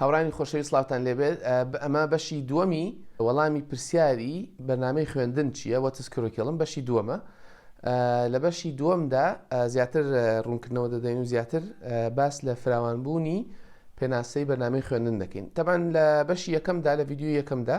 هاورانی خۆشەوی سلاوتان لێبێت ئەمە بەشی دووەمی وەڵامی پرسیاری بەنامەی خوێندن چییە وە تسکرۆکێڵم بەشی دووەمە لە بەشی دووەمدا زیاتر ڕوونکردنەوە دەدەین و زیاتر باس لە فراوانبوونی پێناسەی بەنامەی خوێندن دەکەین تەبان لە بەشی یەکەمدا لە یددیو یەکەمدا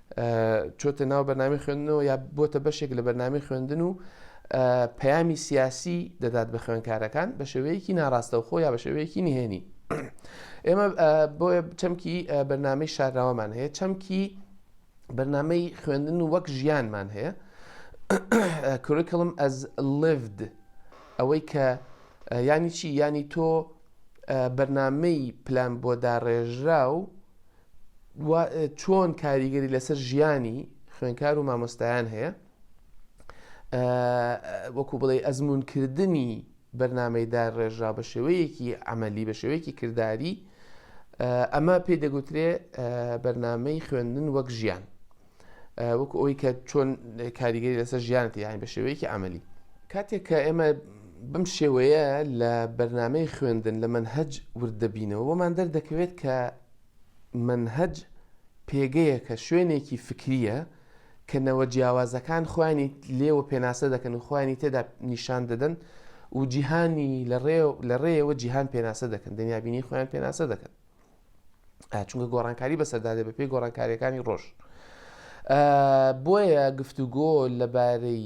چۆتە ناو بەنامی خوێندنەوە یا بۆتە بەشێک لە بەنامی خوێندن و پەیامی سیاسی دەدات بە خوێنکارەکان بە شێوەیەکی ناڕاستەوخۆ یا بە شێوەیەکی نهێنی ئێمە بۆ چەمکی بەنامەی شاراوەمان هەیە چەمکی بەنامەی خوێندن و وەک ژیانمان هەیە کوریکلم ئەز لڤد ئەوەی کە ینی چی ینی تۆ بەرنمەی پلان بۆ داڕێژرا و و چۆن کاریگەری لەسەر ژیانی خوێنکار و مامۆستایان هەیە وەکو بڵێ ئەزمونکردنی بەرنمەی دا ڕێژرا بە شێوەیەکی ئەمەلی بە شێوەیەکی کردداری ئەمە پێی دەگوترێ بەرنمەی خوێندن وەک ژیان وەکو ئەوی کە چۆن کاریگەری لەسەر ژیانەتی یان بە شێوەیەکی ئەمەلی کاتێک کە ئێمە بەم شێوەیە لە بەرنمەی خوێندن لە من هەج وردەبینەوە بۆمان دەردەکەوێت کە مەنهەج پێگەیەکە، شوێنێکی فکرییە کە نەوە جیاوازەکان خۆیانی لێوە پێناسە دەکەن و خۆیانی تێدا نیشان دەدەن و جیهانی لە ڕێیەوە جیهان پێناسە دەکەن دنیابینی خۆیان پێناسە دەکەن چونکە گۆڕانکاری بەسەردادێ بە پێی گۆڕانکاریەکانی ڕۆژ بۆیە گفتوگۆ لەبارەی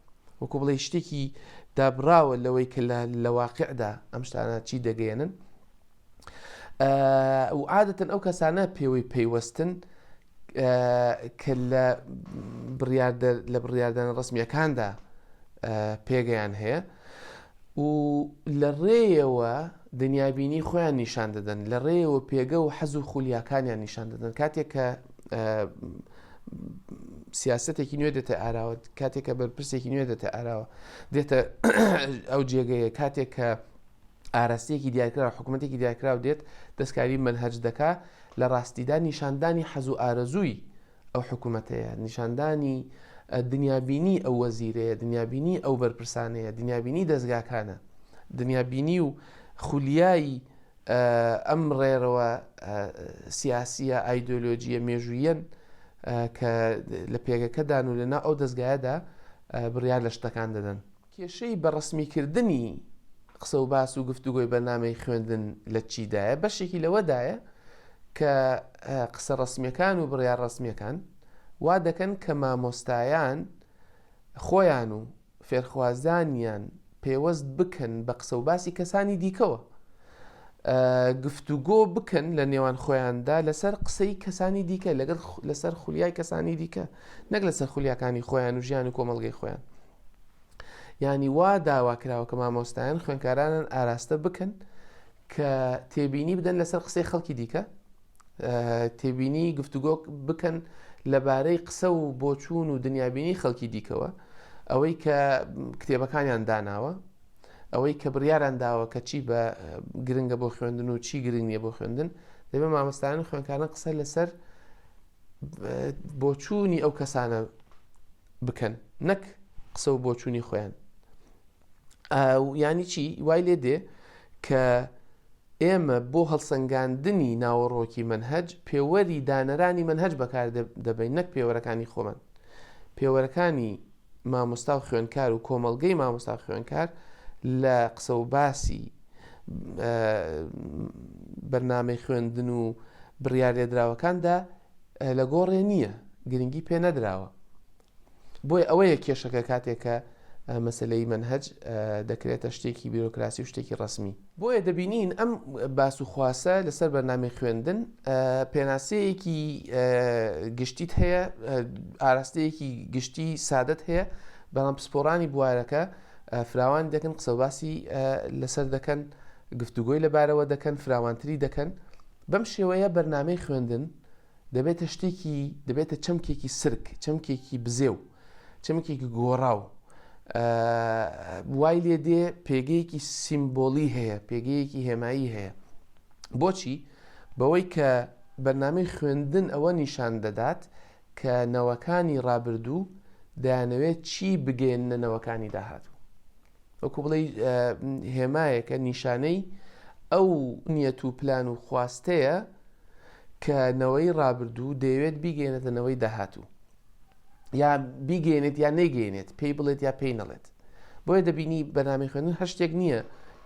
وەکو بڵێی شتێکی دابڕاوە لەوەی کە لە واقعدا ئەم شتانە چی دەگەێنن و عادەتەن ئەو کەسانە پێوەی پەیوەستن کە لە لە بڕاردانە ڕسمیەکاندا پێگەیان هەیە و لە ڕێیەوە دنیابینی خۆیان نیشان دەدەن لە ڕێیەوە پێگە و حەز و خولیاکانیان نیشان دەدەن کاتێک کە سیاستێکی نوێ دێتە ئاراوە کاتێک کە بەرپرسێکی نوێ دێتە ئاراوە دێتە ئەو جێگەیە کاتێک کە ئاراستەیەکی دیارکرا حکوومەتێکی دیارکرااو دێت دەستکاری منهج دەکا لە ڕاستیدا نیشاندانی حەز و ئارەزووی ئەو حکومەتەیە، نیشاندانی دنیابینی ئەو وەزیرەیە، دنیابینی ئەو بەرپرسانەیە، دنیابینی دەزگاکانە، دنیابینی و خولیای ئەم ڕێرەوە سیاسییە، ئایدۆلۆژییە مێژووییەن کە لە پێگەکەدان و لەناو ئەو دەزگایەدا بڕیار لە شتەکان دەدەن. کێشەی بە ڕەسمیکردنی قسە و باس و گفتوگۆی بەرنامەی خوێندن لە چیدایە؟ بەشێکی لەوەدایە کە قسە ڕەسمیەکان و بڕیار ڕەسمیەکان وا دەکەن کە مامۆستایان خۆیان و فێرخوازانیان پێوەست بکەن بە قسە و باسی کەسانی دیکەوە گفتوگۆ بکەن لە نێوان خۆیاندا لەسەر قسەی کەسانی دیکە لەگەر لەسەر خولیای کەسانی دیکە نەک لەسەر خولیاکانی خۆیان و ژیان و کۆمەلگەی خۆیان یانی وا داوا کراوە کە مامۆستایان خوێنکارانن ئاراستە بکەن کە تێبینی بدەن لەسەر قسەی خەڵکی دیکە تێبینی گفتوگۆ بکەن لەبارەی قسە و بۆچوون و دنیابینی خەڵکی دیکەوە ئەوەی کە کتێبەکانیان داناوە ئەوەی کە بڕیاران داوە کە چی بە گرنگە بۆ خوێندن و چی گرنگ نیە بۆ خوێندن دەبێت مامۆستایان خوێنکارن قسە لەسەر بۆچوونی ئەو کەسانە بکەن نەک قسە و بۆچوونی خۆیان ینی چی وای لێ دێ کە ئێمە بۆ هەڵسەنگاندنی ناوەڕۆکی منهج پێوەری دانەرانی منهج بەکار دەبین نەک پێوەرەکانی خۆمان پێوەرەکانی مامۆستا و خوێندکار و کۆمەڵگەی مامۆستا خوێندکار لە قسە و باسی بەرنامەی خوێندن و بڕیار لێدراوەکاندا لە گۆڕێ نییە گرنگی پێ نەدراوە بۆی ئەوەیە کێشەکە کاتێکە مەسلەی منهج دەکرێتە شتێکی بیرۆکراسی و شتێکی ڕسمی بۆیە دەبینین ئەم باس و خواسە لەسەر بەرنامەی خوێندن پێناسەیەکی گشتیت هەیە ئاراستەیەکی گشتی سادت هەیە بەڵام پسپۆرانی بوارەکە فراوان دەکەن قسەباسی لەسەر دەکەن گفتوگۆی لەبارەوە دەکەن فراوانتری دەکەن بەم شێوەیە بەرنمەی خوێندن دەبێتە شتێکی دەبێتە چەمکێکی سرک چەمکێکی بزێ و چەمکێکی گۆڕاو وای لێ دێ پێگەیەکی سیمبۆلی هەیە پێگەیەکی هێمایی هەیە بۆچی بەوەی کە بەرنامەی خوێندن ئەوە نیشان دەدات کە نەوەکانی ڕابردوو دەیانەوێت چی بگەێننە نەوەکانی داهاتوو وەکو بڵێی هێمایەکە نیشانەی ئەو نیەت و پلان و خواستەیە کە نەوەی ڕابردوو دەیەوێت بیگەێنێتە نەوەی داهاتوو یا بیگەێنێت یا نەیگەێنێت پێی بڵێت یا پێی نەڵێت بۆیە دەبینی بەنامی خوێنن هە شتێک نییە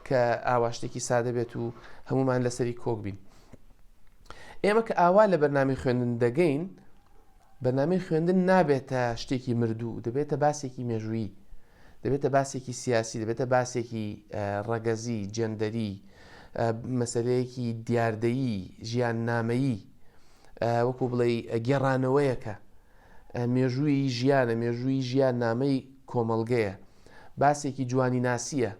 کە ئاواشتێکی سادە بێت و هەمومان لەسەری کۆک بین ئێمە کە ئاوا لە بەرنامی خوێندن دەگەین بەرنامەی خوێندن نابێتە شتێکی مردوو، دەبێتە باسێکی مێژوویی، دەبێتە باسێکی سیاسی، دەبێتە باسێکی ڕەگەزی، جێندەری، مەسەلەیەکی دیاردەیی، ژیان نامەیی، وەکو بڵێ گێڕانەوەیەکە، مێژووی ژیانە، مێژووی ژیان نامەی کۆمەڵگەیە، باسێکی جوانی ناسیە،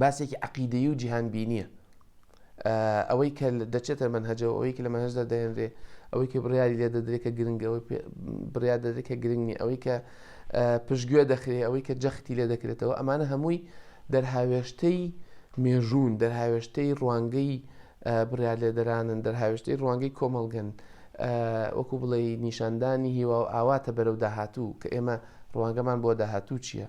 باسێکی عقیدەیی و جیهان بینیە. ئەوەی کە دەچێتە مەنهەجەوە ئەوەی کە لە مەنهەجدا دەهێنرێ ئەوەی کە بڕیاری لێ دەدرێت کە گرنگە ئەوەی بڕیار دەدرێت کە گرنگ نیە ئەوەی کە پشتگوێ دەخرێ ئەوەی کە جەختی لێ دەکرێتەوە ئەمانە هەمووی دەرهاوێشتەی مێژوون دەرهاوێشتەی ڕوانگەی بڕیار لێدەرانن دەرهاوێشتەی ڕوانگەی کۆمەڵگەن وەکو بڵێ نیشاندانی هیوا و ئاواتە بەرەو داهاتوو کە ئێمە ڕوانگەمان بۆ داهاتوو چییە؟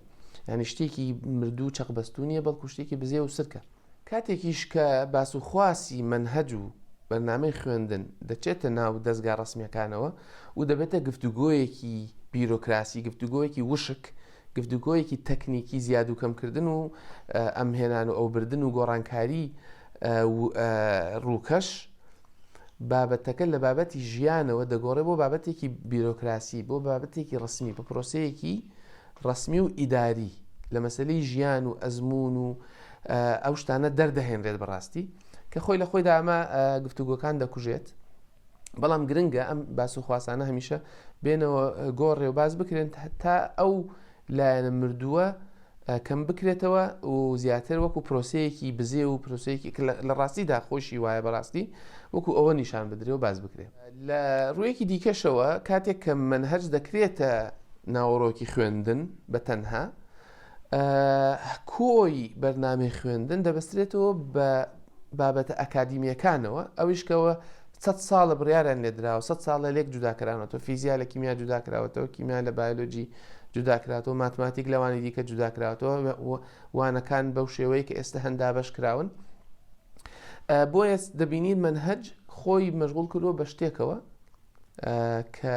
ینی شتێکی مردوو چەقبەستونیە بەڵکو شتێکی بزێ و سرکە کاتێکیش کە باس و خواسی مەنهەج و بەرنامەی خوێندن دەچێتە ناو دەزگا ڕەسمیەکانەوە و دەبێتە گفتوگۆیەکی بیرۆکراسی گفتوگۆیەکی وشک گفتوگۆیەکی تەکنیکی زیاد و کەمکردن و ئەمهێنان و ئەوبردن و گۆڕانکاری ڕووکەش بابەتەکە لە بابەتی ژیانەوە دەگۆڕێ بۆ بابەتێکی بیرۆکراسی بۆ بابەتێکی ڕسمی بە پرۆسەیەکی ڕەسمی و ئیداری لە مەسەلەی ژیان و ئەزموون و ئەو شتانە دەردەهێنرێت بەڕاستی کە خۆی لە خۆیدا ئەمە گفتوگۆکان دەکوژێت بەڵام گرنگە ئەم باس و خواسانە هەمیشە بێنەوە گۆڕێ و باز بکرێن تا ئەو لایەنە مردووە کەم بکرێتەوە و زیاتر وەکو پرۆسەیەکی بزێ و پرۆسەیەکی لە ڕاستیدا خۆشی وایە بەڕاستی وەکو ئەوە نیشان بدرێ و باز بکرێت لە ڕوویەکی دیکەشەوە کاتێک کە مەنهەج دەکرێتە ناوەڕۆکی خوێندن بە تەنها، کۆی بەرنامەی خوێندن دەبەسترێتەوە بە بابەتە ئەکادیمیەکانەوە، ئەویش کەوە سەد ساڵە بڕیاریان لێدراوە سەد ساڵە لێک جوداکرانەوە فیزیا لە کیمیا جوداکراوەتەوە کیمیا لە بایلۆجی جوداکراتەوە ماتماتیک لەوانی دیکە جوداکراتەوە وانەکان بەو شێوەیە کە ئێستە هەن دابەش کراون بۆیە دەبینین منهج خۆی مەشغول کردووە بە شتێکەوە کە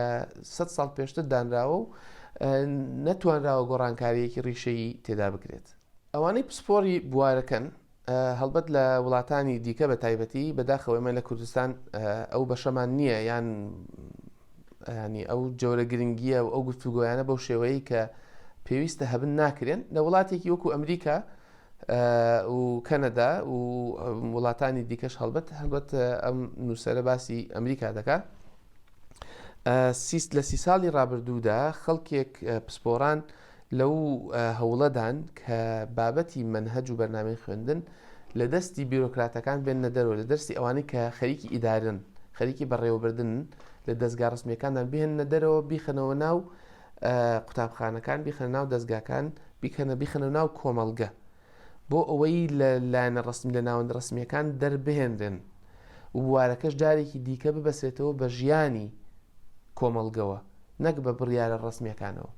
سە ساڵ پێشتر دانراوە و نەتوانراوە گۆڕانکاریەکی ڕیشەیی تێدا بکرێت ئەوانەی پسپۆری بوارەکەن هەڵبەت لە وڵاتانی دیکە بە تایبەتی بەداخەوەی من لە کوردستان ئەو بەشەمان نییە یان یانی ئەو جۆرە گرنگیە و ئەو گفتوگۆیانە بەو شێوەیە کە پێویستە هەبن ناکرێن لە وڵاتێکی وەکو ئەمریکا و کەنەدا و وڵاتانی دیکەش هەڵبەت هەڵبەت ئەم نووسرە باسی ئەمریکا دەکا سیست لە سی ساڵی ڕابردوودا خەڵکێک پسپۆران لەو هەوڵەدان کە بابەتی مەنهەج و بەرنامەی خوێندن لە دەستی بیرۆکراتەکان بێننە دەرەوە، لە دەرسی ئەوانەی کە خەریکی ئیدارەن، خەریکی بەڕێوەبردنن، لە دەزگا ڕەسمییەکاندان بهێننە دەرەوە، بیخەنەوە ناو قوتابخانەکان، بیخەنە ناو دەزگاکان، بیکەنە بیخەنە ناو کۆمەڵگە. بۆ ئەوەی لە لایەنە ڕەسمی لە ناوەندە ڕەسمییەکان دەربهێنرێن و بوارەکەش جارێکی دیکە ببەسرێتەوە بە ژیانی کۆمەڵگەوە نەک بە بڕیارە ڕەسمییەکانەوە.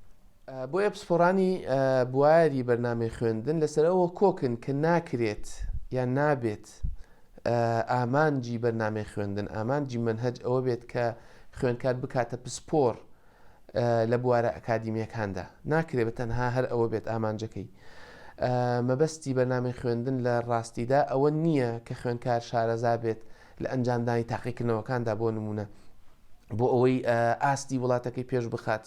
بۆیە پسپۆڕانی بواری بەرنامەی خوێندن لەسەر ئەوە کۆکن کە ناکرێت یان نابێت ئامانجی بەرنامەی خوێندن، ئامانجی مەنهەج ئەوە بێت کە خوێندکار بکاتە پسپۆڕ لە بوارە ئەکادیمییەکاندا، ناکرێت بە تەنها هەر ئەوە بێت ئامانجەکەی. مەبەستی بەرنامەی خوێندن لە ڕاستیدا ئەوە نییە کە خوێندکار شارەزا بێت لە ئەنجامدانی تاقیکردنەوەکاندا بۆ نموونە بۆ ئەوەی ئاستی وڵاتەکەی پێش بخات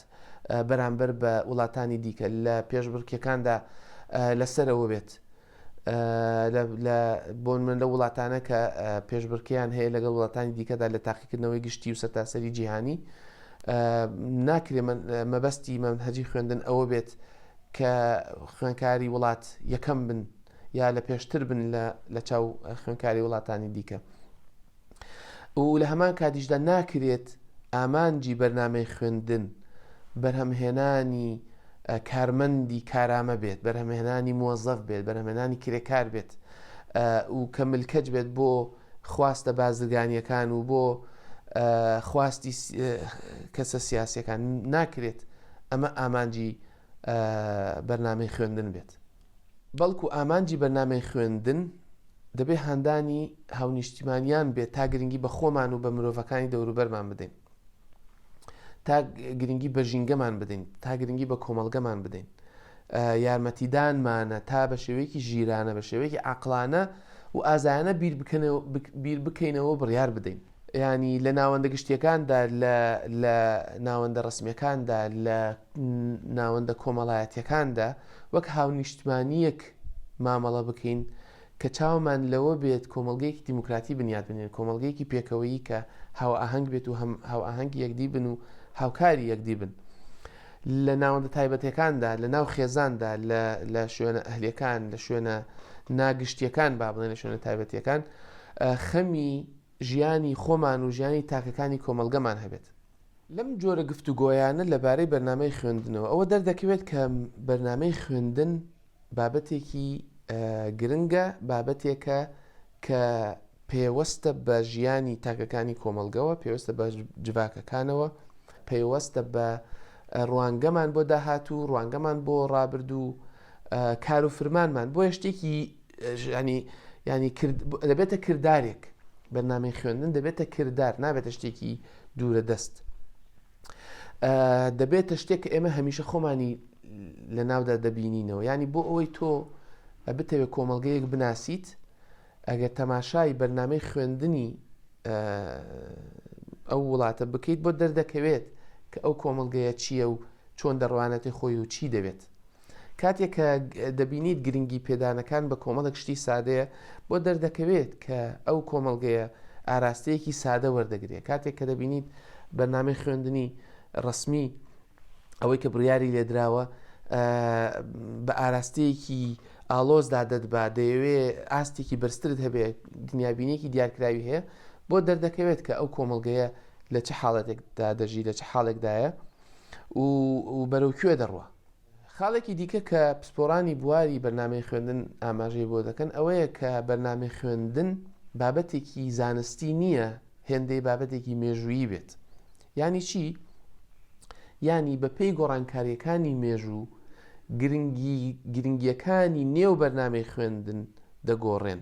بەرامبەر بە وڵاتانی دیکە لە پێشبڕکێکاندا لەسەرەوە بێت. لە بۆنمن لە وڵاتانە کە پێشبرکیان هەیە لەگەڵ وڵاتانی دیکەدا لە تاقیکردنەوەی گشتی و سەرتاسەری جیهانی ناکرێ مەبەستی من هەجی خوێندن ئەوە بێت کە خوێنکاری وڵات یەکەم بن یا لە پێشتر بن لە چاو خوێنکاری وڵاتانی دیکە. و لە هەمان کاتیشدا ناکرێت ئامانجی بەرنامەی خوێندن بەرهەمهێنانی کارمەندی کارامە بێت بەرهەمهێنانی مۆزەف بێت بەرهەمێنانی کرێکار بێت و کە ملکەج بێت بۆ خواستە بازرگانیەکان و بۆ خواستی کەسە سیاسەکان ناکرێت ئەمە ئامانجی بەرنامەی خوێندن بێت بەڵکو ئامانجی بەرنامەی خوێندن دەبێ هاندانی هاونیشتیمانیان بێت تا گرنگی بە خۆمان و بە مرۆڤەکانی دەوروبەرمان بدەین تا گرنگی بە ژینگەمان بدەین تا گرنگی بە کۆمەلگەمان بدەین یارمەتیدانمانە تا بە شێوەیەکی ژیرانە بە شێوەیەکی عقلانە و ئازایانە بیر بکەینەوە بڕیار بدەین یانی لە ناوەندە گشتییەکاندا، لە لە ناوەندە ڕەسمییەکاندا، لە ناوەندە کۆمەڵایەتییەکاندا وەک هاونیشتمانییەک مامەڵە بکەین کە چاومان لەوە بێت کۆمەڵگەیەکی دیموکراتی بنیات بنێین، کۆمەڵگەیەکی پێکەوەیی کە هاوئاهەنگ بێت و هاوئاهەنگی یەکدی بن و هاوکاری یەکدی بن. لە ناوەندە تایبەتەکاندا، لە ناو خێزاندا، لە شوێنە ئەهلیەکان، لە شوێنە ناگشتیەکان با بڵێن لە شوێنە تایبەتیەکان خەمی ژیانی خۆمان و ژیانی تاکەکانی کۆمەڵگەمان هەبێت. لەم جۆرە گفتوگۆیانە لەبارەی بەرنامەی خوێندنەوە، ئەوە دەردەکەوێت کە بەرنامەی خوێندن بابەتێکی گرنگە، بابەتێکە کە پێوەستە بە ژیانی تاکەکانی کۆمەڵگەوە، پێوەستە بە جڤاکەکانەوە، پەیوەستە بە ڕوانگەمان بۆ داهاتوو، ڕوانگەمان بۆ ڕابردوو، کار و فرمانمان بۆیە شتێکی یانی یانی کرد دەبێتە کردارێک بەرنامەی خوێندن دەبێتە کردار نابێتە شتێکی دوورە دەست دەبێتە شتێک کە ئێمە هەمیشە خۆمانی لە ناودا دەبینینەوە ینی بۆ ئەوەی تۆ بتەوێت کۆمەلگەیەک بناسیت ئەگەر تەماشای بەرنمەی خوێندنی ئەو وڵاتە بکەیت بۆ دەردەکەوێت کە ئەو کۆمەلگەیە چییە و چۆن دەڕوانەتی خۆی و چی دەوێت کاتێک کە دەبینیت گرنگی پێدانەکان بە کۆمەڵێک شتی سادەیە بۆ دەردەکەوێت کە ئەو کۆمەڵگەیە ئاراستەیەکی سادە وەردەگرێت کاتێک کە دەبینیت بەنامەی خوێندنی ڕسمی ئەوەی کە بڕیاری لێدراوە بە ئاراستەیەکی ئالۆزدا دەدبا دەیەوێ ئاستێکی بەرزترت هەبێت دنیابینێکی دیارکراوی هەیە بۆ دەردەکەوێت کە ئەو کۆمەلگەیە لە چه حاڵەتێکدا دەژی لە چه حاڵێکدایە و بەرەو کوێ دەڕوە خاڵێکی دیکە کە پسپۆڕانی بواری بەرنامەی خوێندن ئاماژەی بۆ دەکەن ئەوەیە کە بەرنامەی خوێندن بابەتێکی زانستی نییە هێندەی بابەتێکی مێژوویی بێت یانی چی؟ یانی بەپێی گۆڕانکاریەکانی مێژوو گرنگی گرنگیەکانی نێو بەرنامەی خوێندن دەگۆڕێن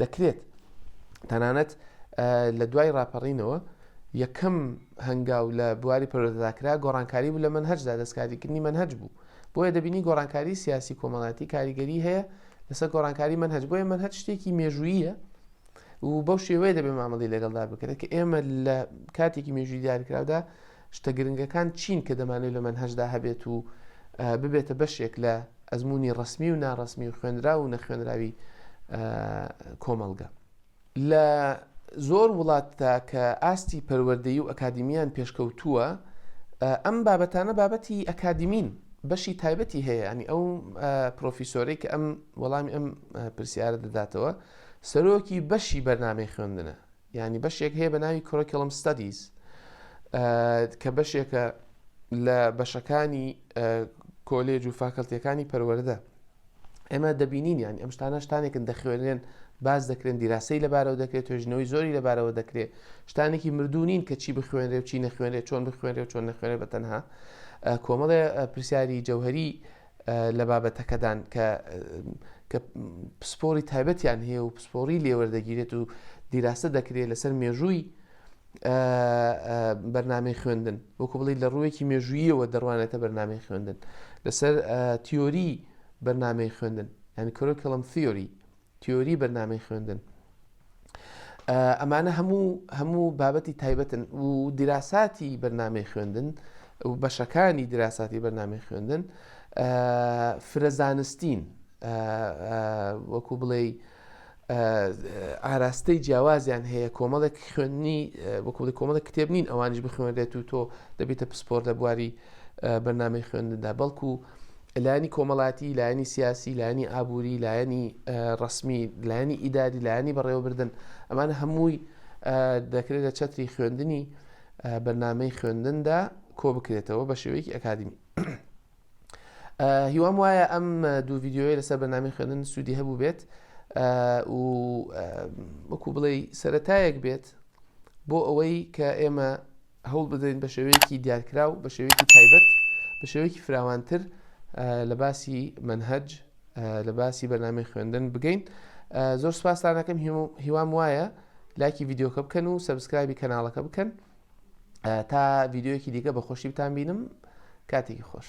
دەکرێت تەنانەت لە دوای راپەڕینەوە یەکەم هەنگاو لە بواری پەرۆدەداکرا گۆڕانکاری بوو لە من هەرجدا دەستکاریکردنی من هەج بوو بۆیە دەبینی گۆڕانکاری سیاسی کۆمەڵاتی کاریگەری هەیە لەسەر گۆڕانکاری من هەج بۆیە من هەر شتێکی مێژوویە و بەو شێوەیە دەبێ مامەڵی لەگەڵدا بکرێت کە ئێمە لە کاتێکی مێژووی دیارکراودا شتە گرنگەکان چین کە دەمانەوێت لە مەنهەجدا هەبێت و ببێتە بەشێک لە ئەزموونی ڕسمی و ناڕسمی و خوێنرا و نەخوێنراوی کۆمەڵگە لە زۆر وڵاتدا کە ئاستی پەروەردەی و ئەکادیمیان پێشکەوتووە ئەم بابەتانە بابەتی ئەکادیمین بەشی تایبەتی هەیە ئەنی ئەو پرۆفیسۆرێک ئەم وەڵامی ئەم پرسیارە دەداتەوە سەرۆکی بەشی بەرنمەی خوێندنە یانی بەشێک هەیە بە ناوی کۆرکیڵم ستادیز کە بەشێکە لە بەشەکانی کۆلێج و فاکەلتیەکانی پەروەەردە ئێمە دەبینین یان ئەم شتانە شتانێکن دەخوێنێن باز دەکرێن دیراسی لەبارەوە دەکرێت توێژنەوەی زۆری لەبارەوە دەکرێت شتانێکی مردوو نین کە چی بخوێنرێ و چی نەخوێنێت چۆن بخوێنێت چۆن نەخوێنێت بە تەنها کۆمەڵێ پرسیاری جەوهری لە بابەتەکەدان کە کە پسپۆری تایبەتیان هەیە و پسپۆری لێوەردەگیرێت و دیراسە دەکرێت لەسەر مێژووی بەرنمەی خوێندن وەکو بڵی لە ڕوویەکی مێژوویەوە دەڕوانێتە بەرنمەی خوێندن لەسەر تیۆری بەرنمەی خوێندن یعنی کۆرۆکەڵم تیۆری تیۆری بەرنامەی خوێندن ئەمانە هەموو هەموو بابەتی تایبەتن و دیراساتی بەرنمەی خوێندن و بەشەکانی دیراساتی بەرنمەی خوێندن فرەزانستین وەکو بڵێ ئاراستەی جیاوازیان هەیە کۆمەڵێک خوێندنی وەکوڵی کۆمەڵە کتێب نین ئەوانش بخوێنێت و تۆ دەبیتە پسپۆر لە بواری بەرنمەی خوێندندا بەڵکو لایەنی کۆمەڵاتی لایەنی سیاسی لایەنی ئابووری لایەنی ڕسمی لایەنی ئیداری لایەنی بەڕێوەبردن ئەمان هەمووی دەکرێت لە چەتری خوێندنی بەرنمەی خوێندندا کۆ بکرێتەوە بە شێوەیەکی ئەکادمی هیوام وایە ئەم دوو یددیوی لەسەر بەنامی خوێندن سوودی هەبوو بێت و وەکو بڵێ سەتایەک بێت بۆ ئەوەی کە ئێمە هەوڵ بدەین بە شێوەیەکی دیارکراو بە شێوەیەکی تایبەت بە شێوەیەکی فراوانتر لە باسی منهج لە باسی بەنامی خوێندن بگەین زۆر سپاسانەکەم هیوام وایە لاکی یددیوکە بکەن و سەبسکرایبی کەناڵەکە بکەن تا یددیوەکی دیکە بە خۆشی بتان بینم کاتێکی خۆش